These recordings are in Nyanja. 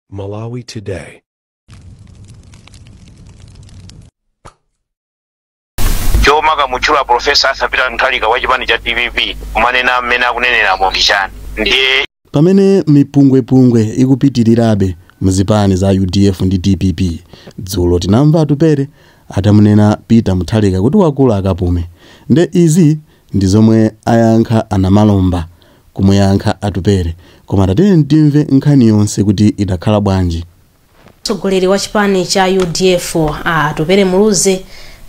Malawi Today. chomakamutchula profesa Arthur Peter Mutharika wa chipani cha dpp kumanena mmene akuneneramo ndi chani ndiye pamene mipungwepungwe ikupitirirabe muzipani za udf ndi dpp dzulo tinamva Atupele atamunena Peter Mutharika kuti wakula akapume nde izi ndi zomwe ayankha a Namalomba kumuyankha Atupele koma tatiyeni timve nkhani yonse kuti idakhala bwanji. Mtsogoleri wa chipani cha udf a Atupele Muluzi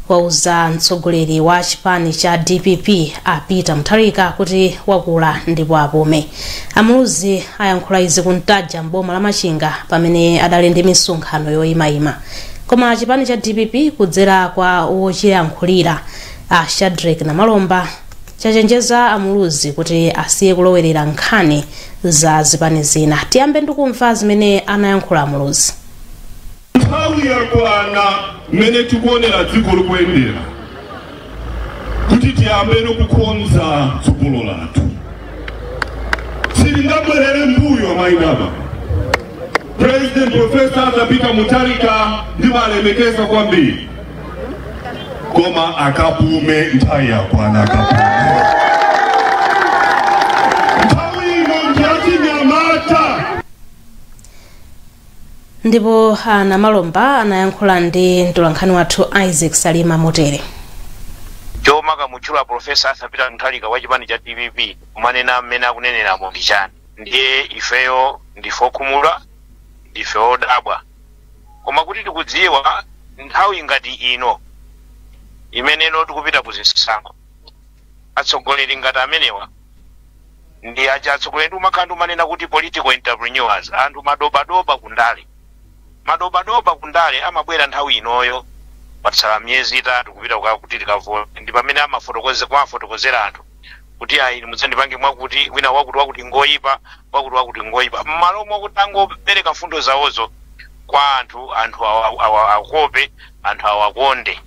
wauza mtsogoleri wa chipani cha dpp a Peter Mutharika kuti wakula ndipo apume. A Muluzi ayankhula izi ku Ntaja m'boma la Machinga pamene adali ndi misonkhano yoyimayima. Koma chipani cha dpp kudzera kwa wochiyankhulira a Shadric Namalomba chachenjeza a Muluzi kuti asiye kulowerera nkhani za zipani zina. Tiyambe ndikumva zimene anayankhula a Muluzi. nthawi yakwana mmene tikuonera dziko likuyendera kuti tiyambeno kukonza tsogolo lathu sitingabwerere mbuyo amayi ndi abambo president profesa Arthur Peter Mutharika ndimalemekeza kwambiri koma akapume nthawi yakwana akapume nthawi ino ndiyachinyamata ndipo a Namalomba anayankhula ndi mtolankhani wathu isaac salima motere chomakamutchula profesa Arthur Peter Mutharika wa chipani cha dpp kumanena mmene akuneneramo ndi chani ndiye ifeyo ndife okhumudwa ndife odabwa koma kuti tikudziwa nthawi ngati ino imeneno tikupita ku zisankho atsogoleri ngati amenewa ndi aja atsogoleri ndi umakhala ndi umanena kuti political entrepreneurs anthu madobadoba kundale madobadoba kundale amabwera nthawi inoyo patsala miyezi itatu kupita kuka- kuti tikavote ndi pamene amafotokoze- kumafotokozera anthu kuti ayi inu mudzandipange mwakuti wina wakuti wakuti ngoyipa wakuti wakuti ngoyipa mmalo mwakuti angopereka mfundo zawozo kwa anthu anthu awa- awa- akope anthu awakonde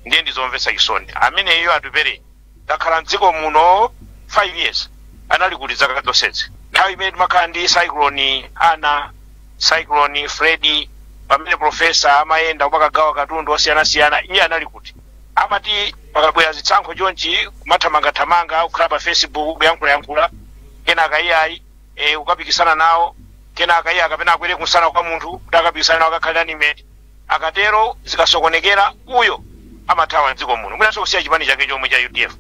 ndiye ndizomvetsa chisoni ameneyo Atupele takhala mdziko muno 5 years anali kuti zaka zonsezi nthawi imene timakhala ndi cyclone Ana cyclone Freddy pamene profesa amayenda kumakagawa katundu osiyanasiyana iye anali kuti amati pakabwera zisankho chonchi kumathamangathamanga kukhala pa facebook kuyankhulayankhula kenaka iyayi e, ukapikisana nawo kenaka iyayi kapena akwere kumsana kwa munthu kuti akapikisana nawo akakhale running mate akatero zikasokonekera uyo amathawa mdziko muno mwinanso kusiya chipani chake chomwe cha udf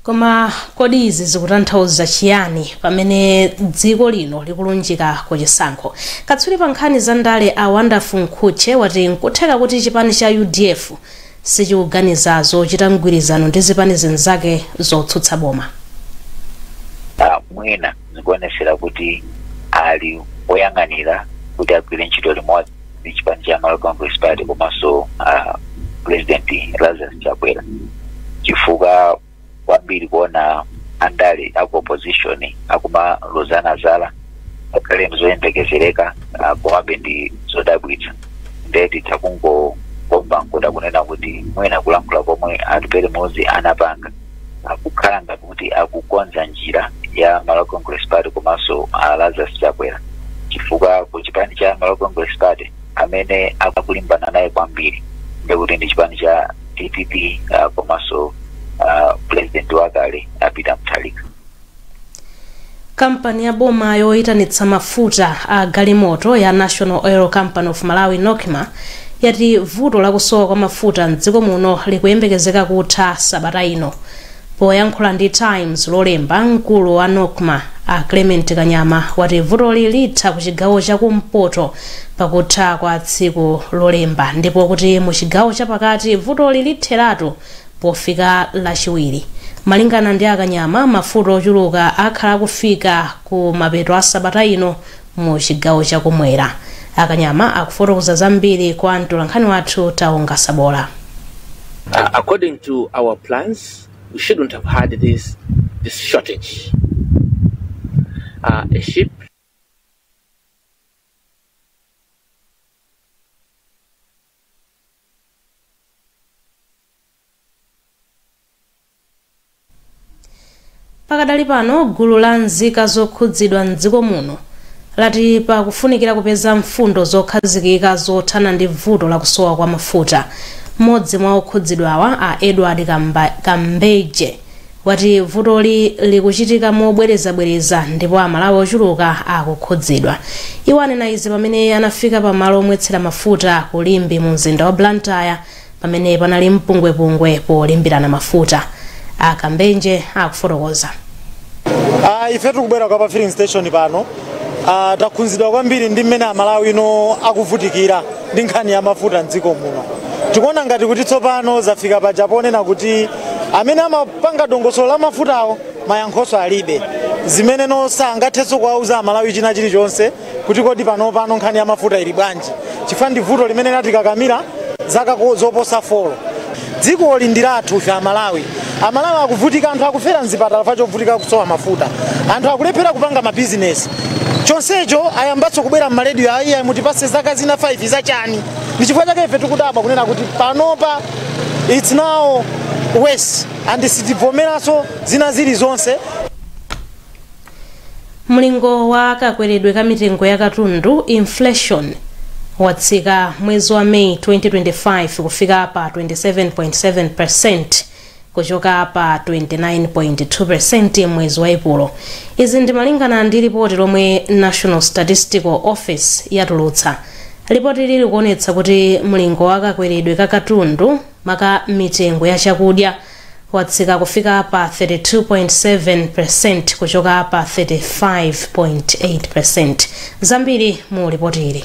Koma kodi izi zikutanthauza chiyani pamene dziko lino likulunjika ku chisankho? Katswiri pa nkhani za ndale a Wonderful Mkhutche wati n'kutheka kuti chipani cha udf sichikuganiza zochita mgwirizano ndi zipani zinzake zotsutsa boma. mwina. zikuonetsa kuti ali oyang'anira kuti agwire ntchito limodzi ndi chipani cha Malawi Congress Party komanso uh, President Lazarus Chakwera chifukwa kwambiri kuona andale aku opposition akumalozana zala ngakhale ndi zoyembekezereka uh, komabe ndi zodabwitsa nde titha kungokomba nkuda kunena kuti mwina kulankhula komwe a Atupele Muluzi anapanga akukhala ngati akukonza njira ya Malawi Congress Party komanso a Lazarus Chakwera chifukwa ku chipani cha Malawi Congress Party amene akulimbana naye kwambiri ndekuti ndi chipani cha DPP uh, komanso uh, president wakale a Peter Mutharika kampani ya boma yoyitanitsa mafuta a galimoto ya national oil company of malawi nocma yati vuto lakusowa kwa mafuta mdziko muno likuyembekezeka kutha sabata ino poyankhula ndi times lolemba mkulu wa nocma a clement kanyama wati vutoli litha ku chigawo cha kumpoto pakutha kwa tsiku lolemba ndipo kuti mu chigawo chapakati vutoli litheratu Pofika Lachiwiri, malingana ndi a Kanyama, mafuta ochuluka akhala akufika ku mapeto a sabata ino mu chigawo cha kumwera. A Kanyama akufotokoza zambiri kwa mtolankhani wathu Taonga Sabola. According to our plans, we shouldn't have had this, this shortage. Uh, a ship Pakadali pano gulu la nzika zokhudzidwa m'dziko muno lati pakufunikira kupeza mfundo zokhazikika zothana ndi vuto la kusowa kwa mafuta. Mmodzi mwa okhudzidwawa a Edward Kambanje wati vutoli likuchitika mobwerezabwereza ndipo Amalawi ochuluka akukhudzidwa. Iwo anena izi pamene anafika pa malo omwetsera mafuta ku Limbe mu mzinda wa Blantyre pamene panali mpungwepungwe polimbirana mafuta. A Kambanje akufotokoza. Uh, ife tikubwera kwa pa filling station pano uh, takhudzidwa kwambiri ndi mmene amalawi akuvutikira ndi nkhani ya mafuta mdziko muno tikuona ngati kuti tsopano zafika paja ponena kuti amene amapanga dongosolo la mafutawo mayankhoso alibe zimene zomwe angathenso kuwauza amalawi china chilichonse kuti kodi panopano nkhani ya mafuta ili bwanji chifukwa ndi vuto limene latikakamira zaka ko- zoposa folo dziko ndi lathu ife amalawi amalawi akuvutika anthu akufera mzipatala chifukwa chovutika kusowa mafuta anthu akulephera kupanga mabizinesi chonsecho ayambanso kubwera m'malediyo ayi ayi mutipase zaka zina 5 zachani ndi chifukwa chake ife tikudabwa kunena kuti panopa It's now worse and sitivomeranso zina zili zonse mlingo wa kakweredwe ka mitengo ya katundu inflation watsika mwezi wa meyi 2025 kufika pa 27.7 percent kuchoka pa 29.2 percent mwezi wa epulo izi ndi malingana ndi lipoti lomwe national statistical office yatulutsa Lipotili likuonetsa kuti mlingo wa kakweredwe ka katundu maka mitengo ya chakudya watsika kufika pa 32.7% kuchoka pa 35.8%. Zambiri mu lipotili.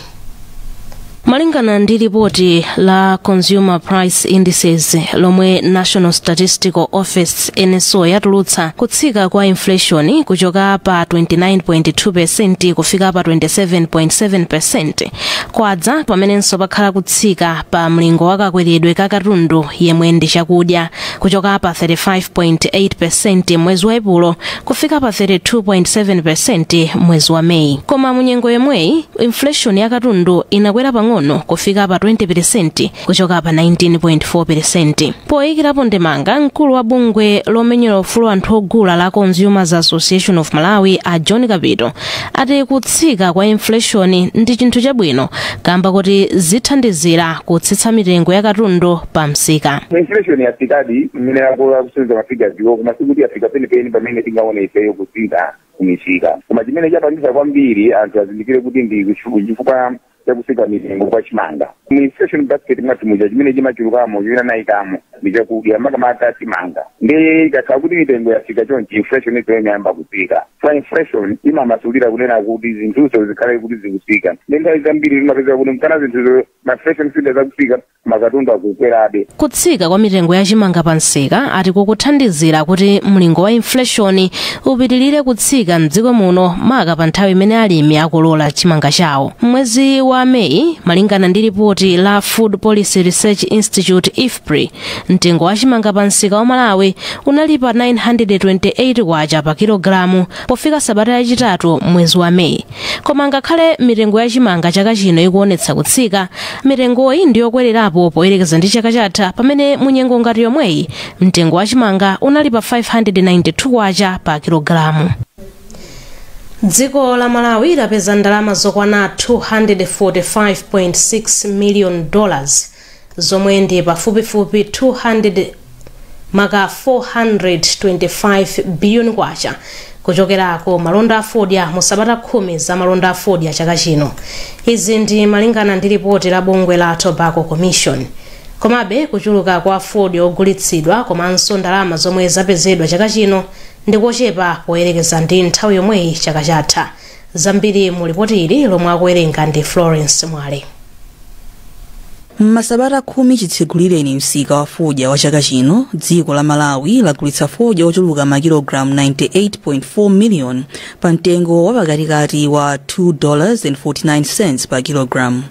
Malingana ndi lipoti la Consumer Price Indices lomwe National Statistical Office NSO yatulutsa kutsika kwa inflation kuchoka pa 29.2% kufika pa 27.7% kwadza pamenenso pakhala kutsika pa mlingo wa kakweredwe ka katundu yemwe ndi chakudya kuchoka pa 35.8% mwezi wa epulo kufika pa 32.7% mwezi wa meyi koma munyengo yomweyi inflation ya katundu inakwera pang'ono kufika pa 20% kuchoka pa 19.4 peresenti poyikirapo ndemanga mkulu wa bungwe lomenyera ufulu wa anthu ogula la consumers association of malawi a john kapito ati kutsika kwa inflation ndi chinthu chabwino kamba koti zithandizira kutsitsa mitengo ya katundu pa msika inflation yatsikadi mmene akuonetsera mafigaziwo koma sikuti yafika penipeni pamene tingaone ifeyo kutsika kumisika koma chimene chapangisa kwambiri anthu azindikire kuti ndi kuchu- chifukwa chakutsika mitengo kwa chimanga mu inflation basket mwathu muja chimene chimachulukamo chimene anayikamo ndi chakudya makamaka chimanga ndiye ikakhala kuti mitengo yatsika chonchi inflation izo imayamba kutsika so inflation imamasulira kunena kuti zinthuzo zikhale kuti zikutsika ndi nthawi zambiri timapeza kuti mkana zinthuzo ma inflation figures akutsika makatundu akukwerabe kutsika kwa mitengo ya chimanga pa msika ati kukuthandizira kuti mlingo wa infleshoni upitirire kutsika mdziko muno maka pa nthawi imene alimi akolola chimanga chawo mwezi wa meyi malingana ndi lipoti la food policy research institute ifpri mtengo wa chimanga pa msika wa malawi unali pa 928 kwacha pa kilogalamu pofika sabata yachitatu mwezi wa meyi koma ngakhale mitengo ya chimanga chaka chino ikuonetsa kutsika mitengoyi ndi yokwererapo poyerekeza ndi chaka chatha pamene munyengo ngati yomweyi mtengo wa chimanga unali pa 592 kwacha pa kilogalamu dziko la malawi lapeza ndalama zokwana 245.6 million dollars zomwe ndi pafupifupi 200 maka 425 biliyoni kwacha kuchokera ku malonda a fodya mu sabata khumi za malonda a fodya chaka chino izi ndi malingana ndi lipoti la bungwe la tobacco commission komabe kuchuluka kwa fodya ogulitsidwa komanso ndalama zomwe zapezedwa chaka chino ndi kochepa poyerekeza ndi nthawi yomweyi chaka chatha zambiri mu lipoti ili lomwe akuwerenga ndi florence mwale m'masabata khumi chitsegulireni msika wa fodya wa chaka chino dziko la malawi lagulitsa fodya ochuluka makilogalamu 98.4 miliyoni pa mtengo wa pakatikati wa 2.49 pa kilogalamu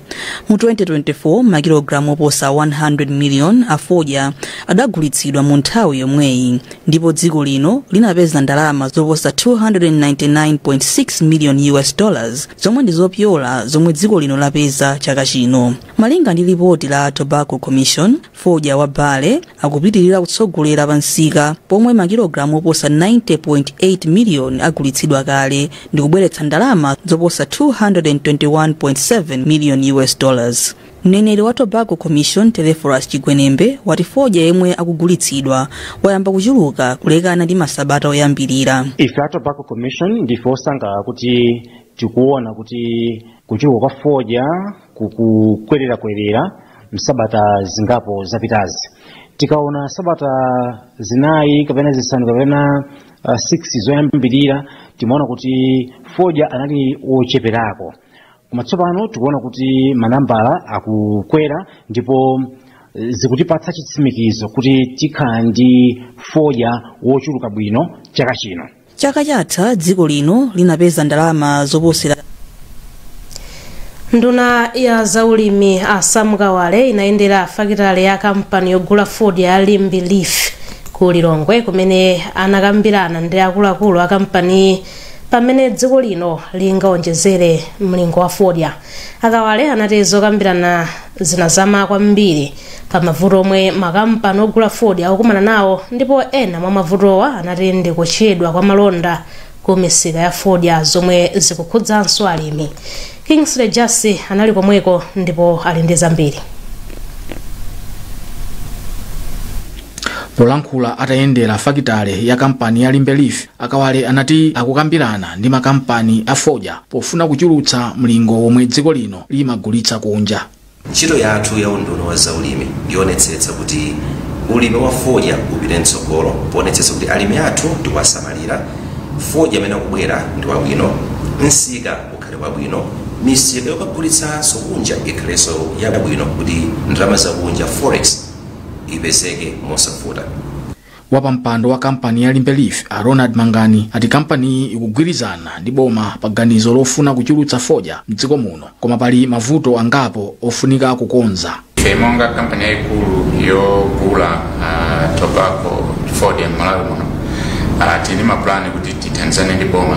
mu 2024 makilogalamu oposa 100 miliyoni a fodya adagulitsidwa mu nthawi yomweyi ndipo dziko lino linapeza ndalama zoposa 299.6 million us dollars zomwe ndi zopyola zomwe dziko lino lapeza chaka chino malinga ndi lipoti la tobacco commission fodya wa burley akupitirira kutsogolera pa msika pomwe makilogalamu oposa 90.8 miliyoni agulitsidwa kale ndi kubweretsa ndalama zoposa 221.7 million us dollars Mneneri wa Tobacco Commission Telephorus Chigwenembe wati fodya yemwe akugulitsidwa wayamba kuchuluka kulekana ndi masabata oyambirira. ife a tobacco commission ndife osangalala kuti tikuona kuti kuchuluka kwa fodya kukukwererakwerera msabata zingapo zapitazi tikaona sabata zinayi kapena zisanu kapena uh, 6 zoyambirira timaona kuti fodya anali wocheperako koma tsopano tikuona kuti manambala akukwera ndipo eh, zikutipatsa chitsimikizo kuti tikhala ndi fodya wochuluka bwino chaka chino chaka chatha dziko lino linapeza ndalama zoposera nduna ya zaulimi a sam kawale inayendera fakitale ya kampani yogula fodya ya limbe leaf ku lilongwe kumene anakambirana ndi akuluakulu a kampaniyi za mmene dziko lino lingaonjezere mlingo wa fodya a kawale anati zokambirana zinazama kwambiri pa mavuto omwe makampani ogula fodya akukumana nawo ndipo ena mwa mavutowa anati ndi kuchedwa kwa malonda ku misika ya fodya zomwe zikukhudzanso alimi kingsley jassi anali komweko ndipo ali ndi zambiri polankhula atayendera fakitale ya kampani ya limbe leaf A Kawale anati akukambirana ndi makampani a fodya pofuna kuchulutsa mlingo womwe dziko lino limagulitsa kunja. Ntchito yathu ya unduna wa zaulimi ndiyoonetsetsa kuti ulimi wa fodya upite mtsogolo poonetsetsa kuti alimi athu tikuwasamalira, fodya amene akubwera ndi wabwino, msika ukhale wabwino, misika yokagulitsanso kunja ikhalenso yabwino kuti ndalama zakunja, forex, ipezeke mosavuta. wapampando wa kampani ya limbe leaf a ronald mangani ati kampaniyi ikugwirizana ndi boma pa ganizo lofuna kuchulutsa fodya mdziko muno koma pali mavuto angapo ofunika kukonza ife monga kampani yayikulu yogula uh, tobacco fodya m'malawi muno uh, tili ndi mapulani kuti tithandizane ndi boma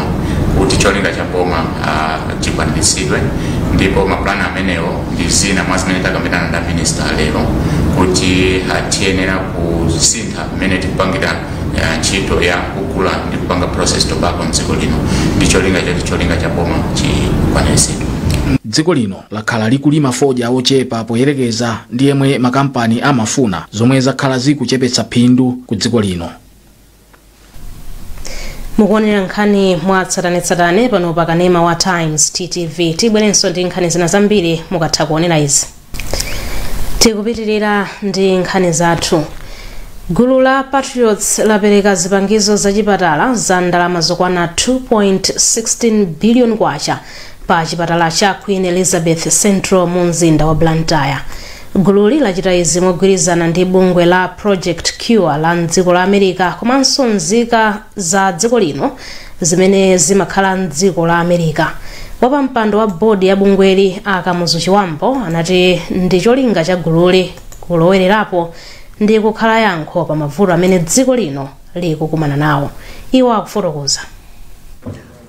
kuti cholinga cha boma uh, chikwaniritsidwe ndipo mapulani amenewo ndi zina mwa zimene takambirana ndi a minista lero kuti uh, tiyenera kusintha mmene tikupangira uh, ntchito ya kugula ndi kupanga process tobacco mdziko lino ndi cholinga choti cholinga cha boma chikwaniritsidwe dziko lino lakhala likulima fodya wochepa poyerekeza ndi yemwe makampani amafuna zomwe zakhala zikuchepetsa phindu ku dziko lino mukuonera nkhani mwa tsatanetsatane pano pa kanema wa times ttv tibwerenso ndi nkhani zina zambiri mukatha kuonera izi tikupitirira ndi nkhani zathu gulu la patriots lapereka zipangizo zachipatala za ndalama zokwana 2.16 billion kwacha pa chipatala cha Queen Elizabeth Central mu mzinda wa Blantyre. Gululi lachita izi mogwirizana ndi bungwe la Project Cure la mdziko la America komanso nzika za dziko lino zimene zimakhala mdziko la America. Wapampando wa bodi ya bungweli a Kamuzu Chibambo anati ndi cholinga cha gululi kulowererapo ndi kukhala yankho pa mavuto amene dziko lino likukumana nawo. Iwo akufotokoza.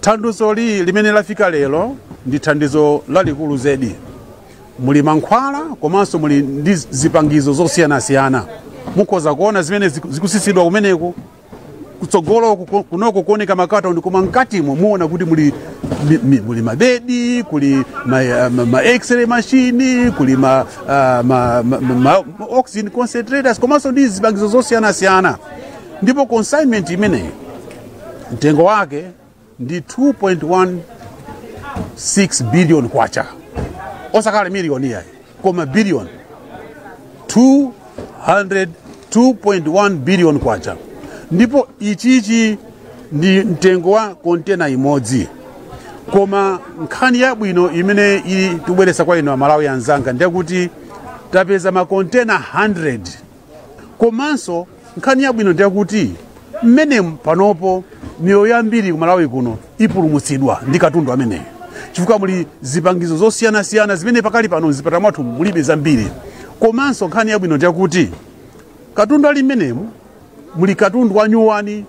Thandizoli limene lafika lero ndi thandizo lalikulu zedi. Muli mankhwala komanso muli ndi zipangizo zosiyanasiyana. Mukhoza kuona zimene ziku- zikusitsidwa kumeneko kutsogolo kuko- kunoko kuoneka makatoni koma mkatimo muona kuti muli mi- mi- muli mabedi kuli ma, eh, ma, ma x-ray machine kuli ma, ah, ma, ma, ma, ma oxygen concentrators komanso ndi zipangizo zosiyanasiyana ndipo consignment imeneyi mtengo wake ndi 2.16 billion kwacha osakhala miliyoni yayi koma billion 200 2.1 billion kwacha ndipo ichichi ndi mtengo wa kontena imodzi koma nkhani yabwino imene ili tibweretsa kwa inu amalawi anzanga ndi yakuti tapeza makontena 100 komanso nkhani yabwino ndi yakuti mmene panopo miyoyo yambiri ku malawi kuno ipulumutsidwa ndi katundu ameneyu chifukwa muli zipangizo zosiyanasiyana zimene pakali pano mzipatala mwathu mulibe zambiri komanso nkhani yabwino ndi yakuti katundu ali mmenemu muli katundu wanyuwani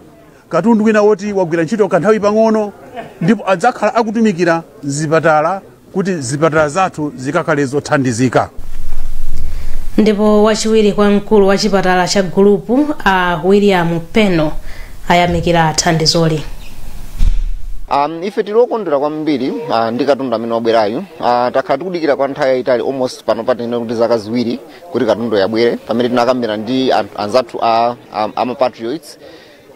katundu wina woti wagwira ntchito kanthawi pang'ono ndipo adzakhala akutumikira mzipatala kuti zipatala zathu zikakhale zothandizika ndipo wachiwiri kwa mkulu wa chipatala cha gulupu a william peno ayamikira thandizoli Um, ife tili okondwera kwambiri uh, ndi katundu amene wabwerayu uh, takhala tikudikira kwa nthawi yayitali almost pano patinene kuti zaka ziwiri kuti katunduyu abwere pamene tinakambira ndi an- anzathu a, a, a mapatriots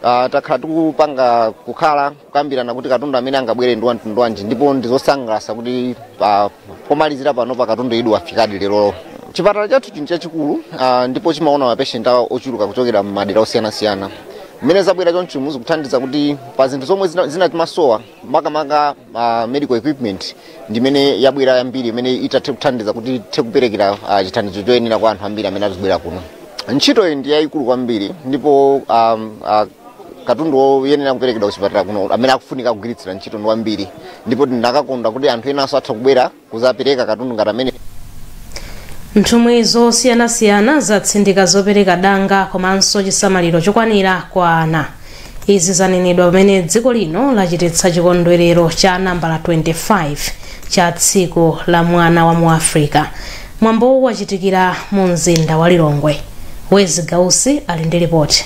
Uh, takhala tikupanga kukhala kukambirana kuti katundu amene angabwere ndi wamtundu wanji ndipo ndizosangalatsa kuti uh, pomalizira pano katunduyu wafikadi lero chipatala chathu chinthu chachikulu uh, ndipo chimaona mapeshenti ochuluka kuchokera m'madera osiyanasiyana mmene zabwera chonchi muzitithandiza kuti pa zinthu zomwe zina- zinatimasowa makamaka uh, medical equipment ndimene yabwera yambiri imene itathe kuthandiza kuti tithe kuperekera uh, chithandizo choyenera kwa anthu ambiri amene azibwera kuno ntchitoyi ndi yayikulu kwambiri ndipo um, uh, katundu woyenera kuperekedwa kuchipatala kuno amene akufunika kugwiritsira ntchito ndi wambiri ndipo ndinakakonda kuti anthu enanso atha kubwera kuzapereka katundu ngati ameneyu nthumwi zosiyanasiyana zatsindika zopereka danga komanso chisamaliro chokwanira kwa ana izi zanenedwa pamene dziko lino lachititsa chikondwerero cha nambala 25 cha tsiku la mwana wa mu africa mwambowu wachitikira mu mzinda wa lilongwe wezzie gausi ali ndi lipoti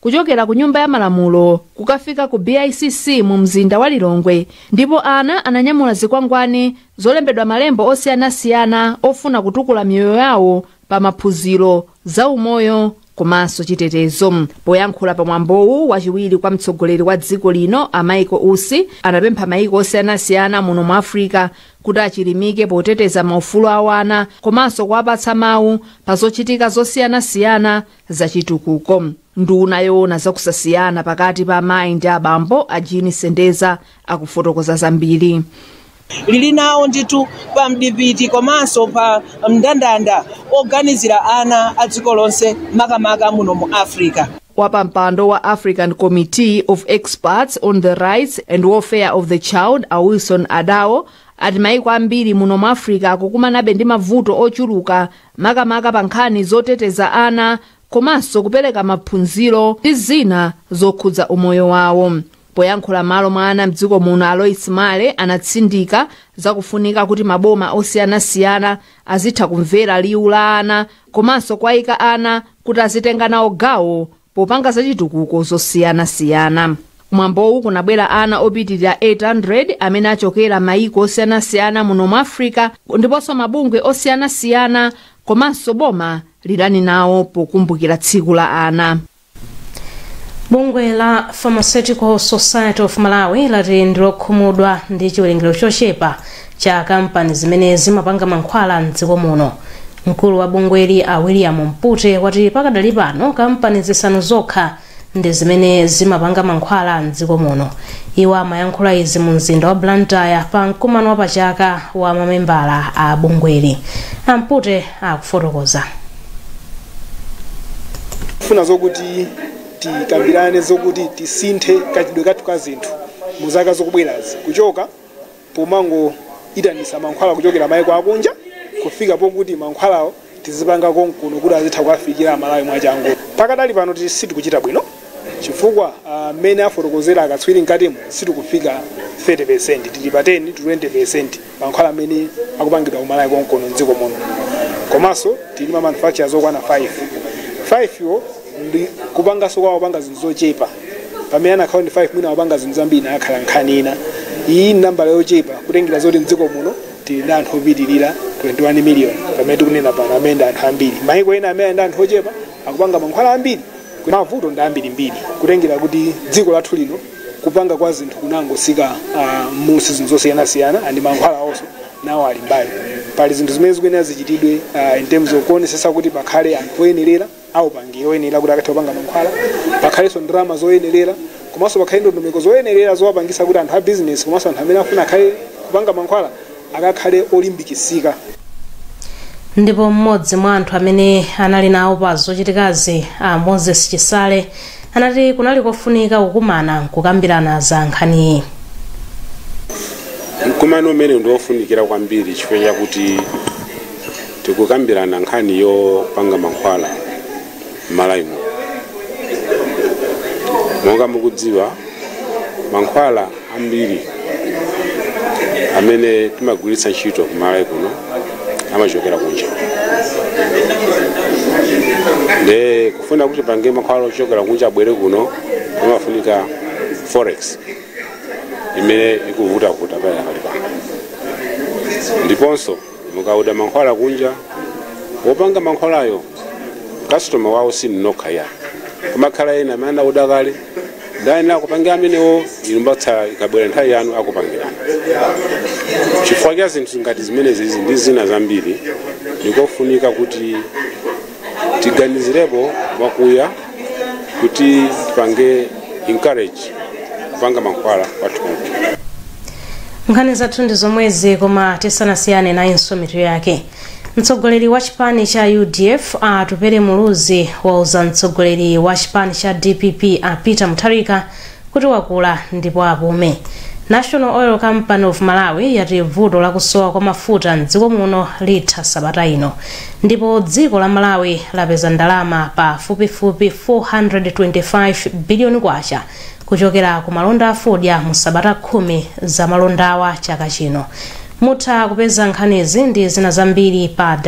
kuchokera ku nyumba ya malamulo kukafika ku BICC mu mzinda wa Lilongwe ndipo ana ananyamula zikwangwani zolembedwa malembo osiyanasiyana ofuna kutukula miyoyo yawo pa maphunziro za umoyo komanso chitetezo poyankhula pa mwambowu wachiwiri kwa mtsogoleri wa dziko lino a Michael Usi anapempha maiko osiyanasiyana muno mu africa kuti achilimike poteteza maufulu a wana komanso kuwapatsa mawu pa zochitika zosiyanasiyana zachitukuko nduna yoona zakusasiyana pakati pa amayi ndi abambo a jean sendeza akufotokoza zambiri lili nawo ndithu pa mdipiti komanso pa mndandanda oganizira ana a dziko lonse makamaka muno mu africa wapampando wa african committee of experts on the rights and welfare of the child a wilson adao ati maiko ambiri muno mu africa akukumanabe ndi mavuto ochuluka makamaka pa nkhani zoteteza ana komanso kupereka maphunziro ndi zina zokhudza umoyo wawo poyankhula malo mwa ana mdziko muno alois male anatsindika zakufunika kuti maboma osiyanasiyana azitha kumvera liwu la ana komanso kwayika ana kuti azitenga nawo gawo popanga zachitukuko zosiyanasiyana kumwambowu kunabwera ana opitirira 800 amene achokera mayiko osiyanasiyana muno mu africa ndiponso mabungwe osiyanasiyana komanso boma linali nawo pokumbukira tsiku la ana bungwe la pharmaceutical society of malawi lati ndilokhumudwa ndi chiwerengero chochepa cha kampani zimene zimapanga mankhwala m'dziko muno. Mkulu wa bungweli a William Mpute wati pakadali pano kampani zisanu zokha ndi zimene zimapanga mankhwala m'dziko muno. Iwo amayankhula izi mu mzinda wa Blantyre pa mkumano wa pachaka wa mamembala a bungweli. A Mpute akufotokoza. funa zokuti tikambirane zokuti tisinthe kachitidwe kathu ka zinthu mu zaka zokubwerazi kuchoka pomangoitanisa mankhwala kuchokera maiko akunja kufika pokuti mankhwalawo tizipanga konkuno kuti azitha kuwafikira amalawi mwachangu. Pakadali pano tili sitikuchita bwino chifukwa mmene afotokozera akatswiri mkatimu sitikufika 30% tili pa 10 to 20% mankhwala amene akupangidwa kumalawi konkuno mdziko muno komanso tili ndi ma manufacturers okwana 5, 5 yo. ndi kupanganso kwake akupanga zinthu zochepa pamene anakhala ndi 5 mwina akupanga zinthu zambiri ikanakhala nkhani ina iyi ndi nambala yochepa kutengera zoti mdziko muno tili ndi anthu opitirira 21 miliyoni pamene tikunena pano amene ndi anthu ambiri maiko ena amene ali ndi anthu ochepa akupanga mankhwala ambiri mavuto ndi ambirimbiri kutengera kuti dziko lathu lino kupanga kwa zinthu kunangotsika ah, m'zi zinthu zosiyanasiyana ndi mankhwala awonso nawo ali mbali pali zinthu zimene zikuyenera zichitidwe ah, in terms of kuonesesa kuti pakhale anthu oyenerera a upangiri oyenerera kuti akathe kupanga mankhwala, pakhalenso ndalama zoyenerera komanso pakhale ndondomeko zoyenerera zowapangitsa kuti anthu a bizinesi komanso anthu amene akufuna akhale kupanga mankhwala akakhale olimbikitsika. Ndipo m'modzi mwa anthu amene anali nawo pa zochitikazi a Moses Chisale, anati kunali kofunika kukumana nkukambirana za nkhaniyi mkumano umenewu ndi wofunikira kwambiri chifukwa chakuti tikukambirana nkhani yopanga mankhwala m'Malawi muno monga mukudziwa mankhwala ambiri amene timagwiritsa ntchito kumalawi kuno amachokera kunja nde kufuna kuti pange mankhwala ochokera kunja abwere kuno pamafunika forex imene ikuvutavuta pakadali pano ndiponso Mukaoda mankhwala kunja, wopanga mankhwalayo customer wawo sinu nokha ayi. Kumakhala ena amene anaoda kale ndiye ayenera akupangira amenewo inu m'bakatsala ikabwera nthawi yanu akupangirani. Chifukwa cha zinthu ngati zimenezizi ndi zina zambiri, ndikofunika kuti tiganizirepo mwakuya kuti tipange encourage kupanga mankhwala athu nkhani zathu ndi zomwezi koma tisanasiyane nayinso mitu yake mtsogoleri wa chipani cha udf Atupele muluzi wauza mtsogoleri wa chipani cha dpp a peter mutharika kuti wakula ndipo apume. National Oil Company of Malawi yati vuto lakusowa kwa mafuta mdziko muno litha sabata ino ndipo dziko la Malawi lapeza ndalama pa fupifupi 425 biliyoni kwacha kuchokera ku malonda afodya mu sabata khumi za malondawa chaka chino. Mutha kupeza nkhanizi ndi zina zambiri pa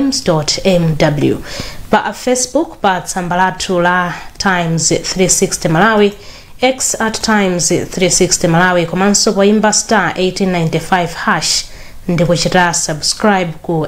www.times.mw pa Facebook pa tsamba lathu la times 360 malawi x at times 360 malawi komanso poimba star 1895 hash ndi kuchita subscribe ku